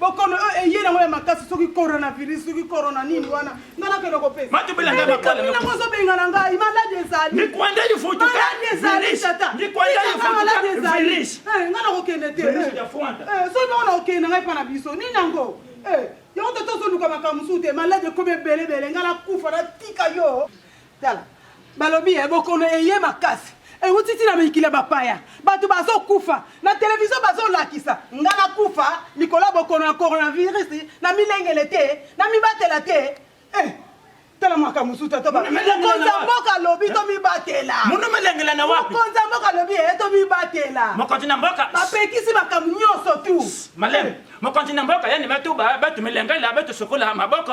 bokono oyo eh, eye nango ya makasi soki coronavirus soki corona nini wana nga nakende kopesaango ozobengana ngai maladi ezalimaladi ezali tatamaladi ezali eh, nga nakokende te eh, soki bango nakokende na ngai mpa na biso nini yango yango tata ozoluka makambo mosusu te maladi ekomi ebelebele nga nakufa natika yo Tala, balobi eh, bokono eye makasi ewuti ti na mikili ya bapaya bato bazokufa na televizio bazolakisa nga nakufa likolo ya bokono ya coronavirus na milengele te na mibatela te eh, tala makambo mosusu tatomokonzi ya mboka alobi eh? tomibatela monomelengela na wapi mokonzi ya mboka alobi eye eh, tomibatela mokonzi na mboka bapekisi makambo nyonso tu maleme eh. mokonzi na mboka yanima tu batu milengela batu sokola maboko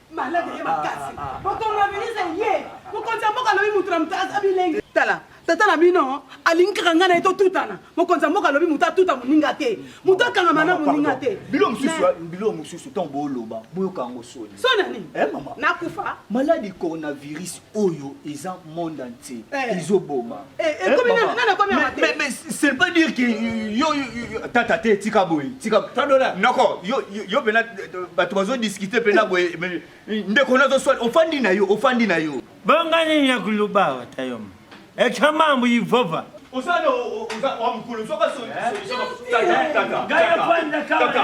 malade eye makasi mokongo ya ministre eye mokonzi ya mboka alobi moto na moto aza bilenge tala tata na bino alingi kaka ngai na ye totutana mokonzi ya mboka alobi moto atuta moninga te moto akangama na moninga te bilo mosusu bilo mosusu ntango booloba boyoka yango soni soni nini eh, nakufa maladi coronavirus oyo eza monde entier eh. ezoboma eh, eh, mais c'est pas dire que yo tata te tika boye tika noko yo mpena bato bazodiscute mpena boye ndeko nazoswali ofandi na yo ofandi na yo bonga nini ya kuluba wata yo ekya mambo yehova osana wa mokolo soka soyefanda kaka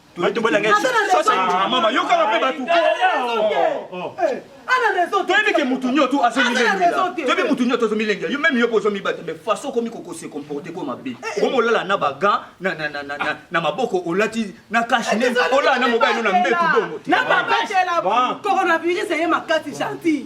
bato bolanga mama yokaka mpe bato toyebi ke motu nyoto azomilengelaoyebi motu nyoto azomilengela yo meme yo mpe ozomibata me façon okomi kokose comporte ko mabe okomi olala na bagan na maboko olati na kashe ne olala na mobali no na mbetu bongo te coronavirus eye makasi gentil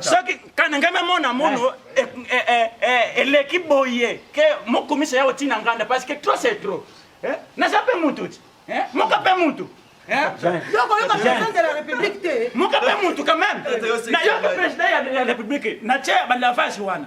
soki kanengeme mona mono eh. eh, eh, eh, eleki boye ke mokumisa ya otina nganda parce que trop c'est trop naza mpe mutu ti moka mpe mutu yokoyoka president de la république te moka mpe mutu quand même nayoka president ya république natie balavage wana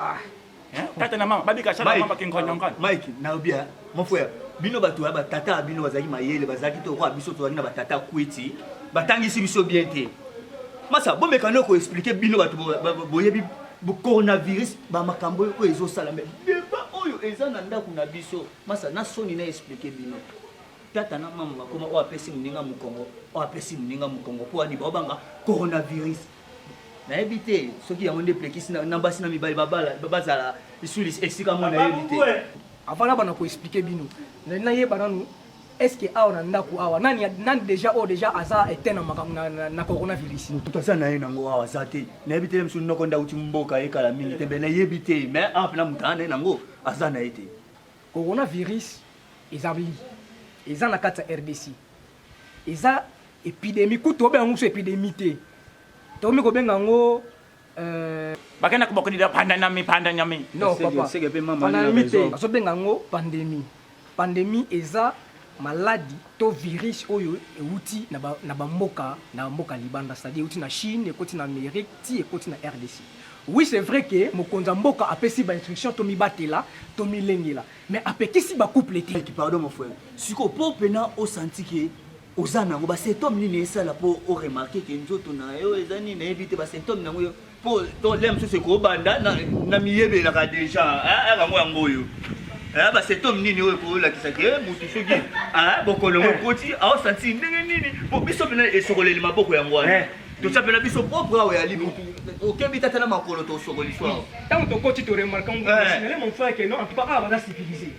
Ah. Hein? Tata na mama babika sala mama kingonyo ngana. Mike, na obia, mon frère, bino bato ya batata bino bazalaki mayele bazalaki te okoa biso tozalaki na batata kwiti batangisi biso bien te masa bomeka no koexplike bino bato boyebi coronavirus bamakambo oyo ezosala me deba oyo eza na ndako na biso masa na soni na explike bino tata na mama bakoma oyo apesi moninga mokongo oyo apesi moninga mokongo mpo ani baobanga coronavirus nayebi te soki yango nde plekisi na basi na mibali bazala lisuli esika mwa nayebi te avana bana koexplike bino nayeba nanu estce awa na ndako awa nani, nani deja oyo oh, deja aza ete na makambo na, na coronavirus motu aza na ye nango awa aza te nayebi te mosu noko nde auti mboka ye kala mingi te mbe nayebi te mais awa mpena motu aa na ye nango aza na ye te coronavirus ezali eza na kati ya rdc eza epidemie kutu obenga yango mosu epidemie te tokomi kobenga yango euh, bakenda kobokondida pandanyami pandanyami non papa pandanyami te azobenga yango pandemie pandemie eza maladi to virus oyo euti na bamboka na bamboka libanda c'est-à-dire euti na chine ekoti na amérique ti ekoti na rdc oui c'est vrai ke mokonzi ya mboka apesi bainstruction tomibatela tomilengela mais apekisi ba couple te Mike, pardon mon frère siko po pena osanti ke oza nango basymptome nini esala po oremarke ke nzoto na yo eza nini nayebi te basymptome nango yo po to lea mosusu ekobanda na- na miyebelaka deja ah, ah, bango yango oyo Ah, basymptome nini oyo ekolakisa ke motu soki ah, bokono ngo ekoti aosanti ndenge nini po biso pena esokoleli maboko yango wana Eh. tosapela biso propre awa ya libutu okebi tata na makolo tosokoli so awa ntango tokoti toremarka ngosingele mon frère ke non en tout cas awa baza civilisé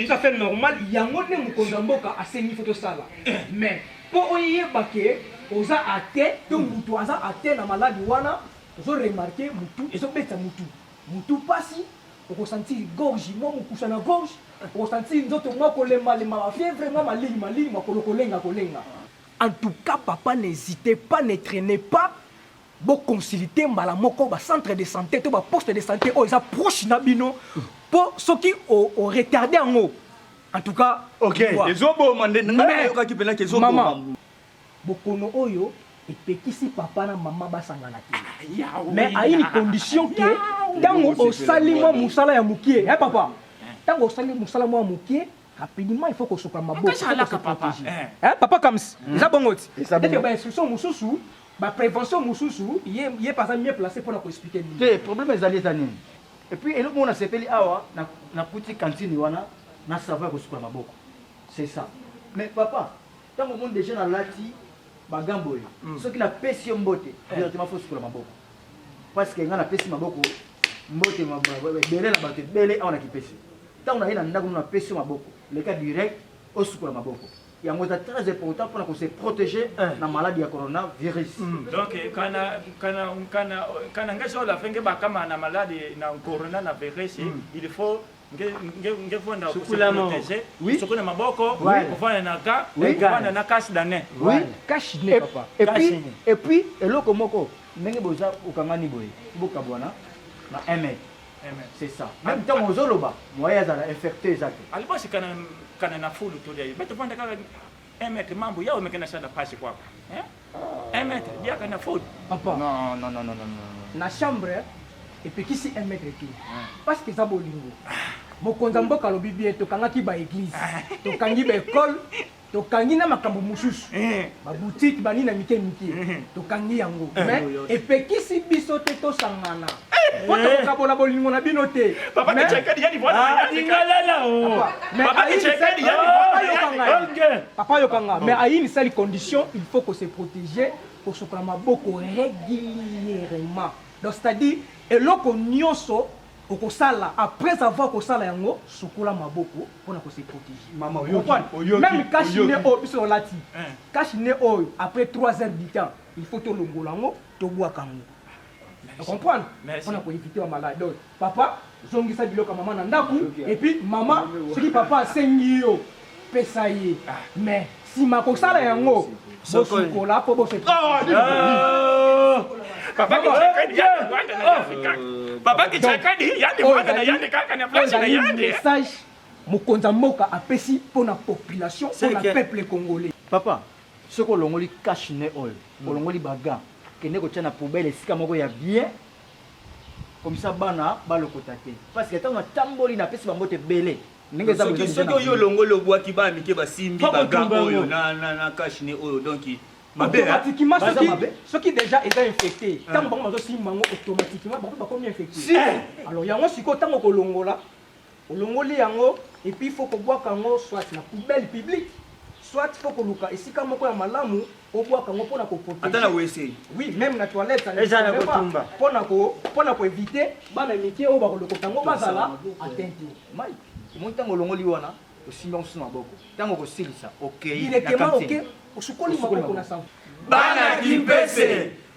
tout à fait normal yango nde mokonzi ya mboka asengi fo tosala mais mpo oyeba ke oza ate to motu aza ate na maladi wana ozoremarke motu ezobeta motu motu mpasi okosantir gorge mwa mokusa na gorge okosantir nzoto mwa kolembalema bafievre mwa malili malili makolo kolenga kolenga En tout cas papa n'hesitez pas ne trainez pas bo consulter mbala moko ba centre de santé to ba poste de santé oyo eza proche na bino po soki o, o retarder yango en tout cas ok ezoboma nde nayokaki mpena ke ezoboma bokono oyo epekisi papa na mama basangana te ah, mais ayini condition ke ntango osali mwa mosala ya mokie e papa ntango osali mosala mwa mokie rapidement il faut kosokola maboko eh, papa kams hmm. eza bongo ti teke bainstruction mosusu baprévention mosusu ye paza mieux placé mpona koexplike nini te problème ezali eza nini epuis eloko moko nasepeli awa nakuti kantine wana na savo ya kosukola maboko c'est ça mais papa ntango omoni déjà nalati bagambo oyo hmm. soki napesi yo mbote eh. directement fo sukola maboko parce que ngai napesi maboko mbote ebele na bato ebele awa na kipesi Tango naye na ndaku no na pesi yo maboko leka direct osukola maboko yango eza très important pona ko se proteger eh. na maladi ya corona virus mm. donc kana kana kana kana ngeso ola fenge bakama na maladi na corona na virus mm. il faut ngefonda koseprotege soki na maboko kofanda na ka kofanda na cache dane cache ne papa epuis eloko moko ndenge boza okangani boye bokabwana na ml C'est ça. Même tant aux oloba, moi ya zala infecté eza te. Alibasi kana kana na fulu to dai. Beto panda kaka un mètre mambo yao mekana sana pasi kwa. Hein? Un mètre dia kana fulu. Papa. Non non non non non. Na chambre epekisi un mètre tout. Parce que za bolingo. Ah. Mokonza mboka lobi bien tokangaki ba église, ah. tokangi ba école tokangi na makambo mosusu eh. babutiki bani na mike mike eh. tokangi yango eh. mais epekisi biso te tosangana po tokokabola bolingo na bino te papa yokanga mais ayinisali condition il faut ko se protéger kosokola maboko régulièrement donc c'est-à-dire eloko nyonso Okosala après avoir kosala yango sukola maboko pona ko se proteger. Maman oyoki? Meme cache nez oyo biso tolati cache nez oyo après trois heures du temps il faut tolongola yango tobwaka yango o comprendre pona ko eviter ba maladies donc papa zongisa biloko ya maman na ndaku et puis maman soki papa asengi yo pesa ye mais nsima kosala yango bosukola mpo bose message mokonzi ya mboka apesi mpo na population mpo na peuple congolais papa soki olongoli cash ne oyo hmm. olongoli baga kende kotya na poubele esika moko ya bien komisa bana balokota te parce que ntango natamboli napesi bango te ebele ndenge eza soki soki oyo olongoli obwaki bana mike basimbi baga oyo na na na cash ne oyo donc automatiquement soki soki déjà eza infecté ntango bango bazosimba yango automatiquement bango bakomi infecté alors yango sikoyo ntango kolongola olongoli yango epuis faut kobwaka yango soit na poubelle publique soit faut koluka esika moko ya malamu obwaka yango mpo na koprotegeata na wc oui meme na toilette ezala kotumba mpo na mpo na koevite bana mike oyo bakolokoka yango bazala atente mai omoni ntango olongoli wana osimbi yango susu maboko ntango okosilisa okei directement oke osukoli maboko na sango bana kimpese